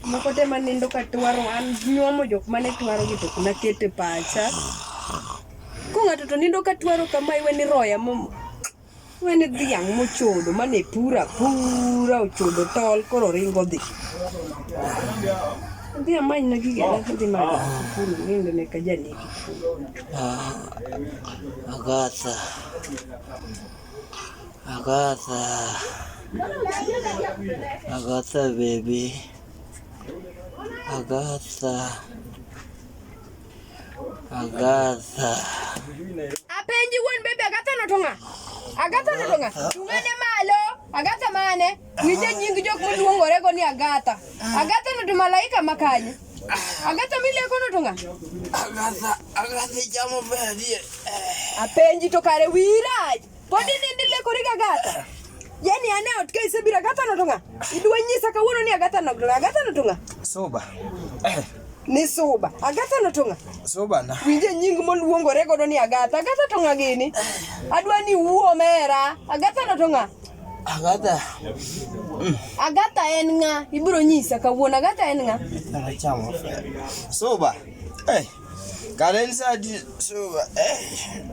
moko te manindo ka twaro an nyuomo jok mane twaro gi to nakete pacha ko ng'ato to nindo ka twaro kama iwe ni roya mo iwe ni dhiang' mochodo mane pura pura ochodo tol koro ringo dhi dhi amany na gige na dhi ma kuru nindo ne ka janiki agatha Agatha. Agatha baby. Agatha. Agatha. Apenji won baby Agatha no tonga. Agatha no tonga. Tungane malo. Agatha mane? Wije nying jok moluongore go ni Agatha. Ah. Agatha no to malaika makanye. Ah. Agatha mileko no to nga. Agatha, Agatha jamo bedie. Eh. Apenji to kare wiraj. Podi ni ndileko riga Agatha. Ah. Yaani ane otke isebira Agatha no to nga. Idwa nyisa kawuono ni Agatha no to nga. Agatha no to nga. Soba. Eh. Ni soba. Agatha no to nga. Soba na. Wije nying moluongore go ni Agatha. Agatha to nga gini. Adwa ni wuo mera. Agatha no to nga. Agatha. Mm. Agatha en ng'a? Ibiro nyisa kawuono Agatha en ng'a? Anachamo. Soba. Eh. Karen sadi soba. Eh.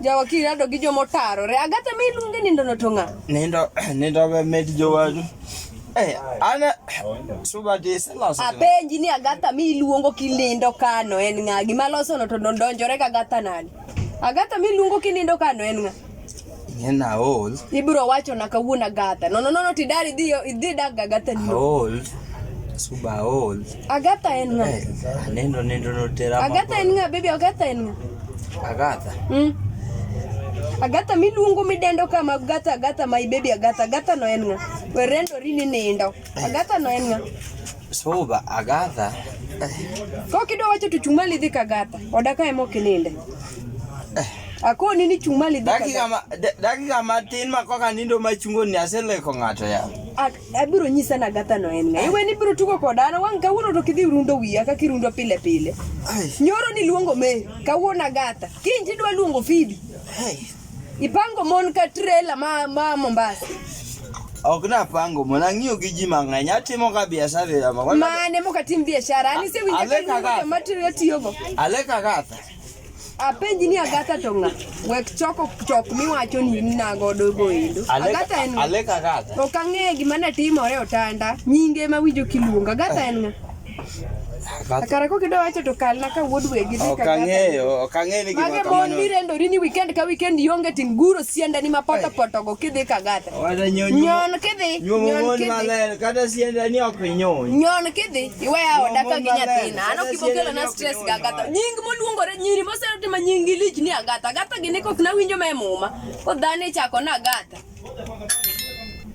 Jawa kirado gi jomo tarore. Agatha me iluonge nindo no to ng'a? Nindo nindo be med jowadu. Eh, ana soba de selos. Apenji ni Agatha me iluongo kilindo kano en ng'a? Gima loso no to donjore ka Agatha nani? Agatha miluongo kinindo kano en ng'a? En aol. Ibiro wacho na kawuono Agatha. No no no tidari idhi idhi dag Agatha ni. Aol. Suba aol. Agatha en ng'a? Eh, aneno nendo no tera. Agatha en ng'a baby Agatha en ng'a? Agatha. Mm. Agatha miluongo midendo kama Agatha Agatha my baby Agatha Agatha no en ng'a? Werendo rini nindo. Eh. Agatha no en ng'a? Soba Agatha. Ko kido wacho to chumali dhi kagata. Odaka emo kininde. Eh. Ako nini chumali dhi dakika ma, dakika matin ma koka nindo ma chungo ni aseleko ng'ato ya. Abiro nyisa na gata no en ng'ayi. Iwe ni biro tugo koda na wang' kawuono to kidhi rundo wiya ka kirundo pile pile. Nyoro ni luongo me kawuono agata. Kinji dwa luongo fidi. Hey. Ipango mon ka trela ma, ma Mombasa. Ok napango mon, ang'iyo gi ji mang'eny, atimo ka biashara ya ma. Mane moka tim biashara, ani se winja Ale ka kaka. ni ma trela tiyogo. Ale kakatha. Apenji ni Agatha to ng'a? Wek choko chok miwacho ni in nago dogo endo. Ale Agatha en ng'a? ale kakatha. Ok ang'eyo gima natimore otanda. Nyinge ma winjo kiluongo. Agatha en ng'a? Kare ko kido wacho to kalna ka wuod wegi ni kaka. Okang'eyo, okang'eyo ni gima kamano. Mage mon mirendo rini weekend ka weekend ionge ting guro sienda ni ma poto poto go kidhi kagata. Wada nyon. Nyon kidhi. Nyon kidhi. Maler kata sienda ni ok nyon. Nyon kidhi. Iweya oda ka gi nyathina. Ano kibokelo na stress ga gata. Nying moluongore nyiri moseroti ma nying lich ni agata. Agata gi ne kok na winjo me muma. Ko dhani chako na agata.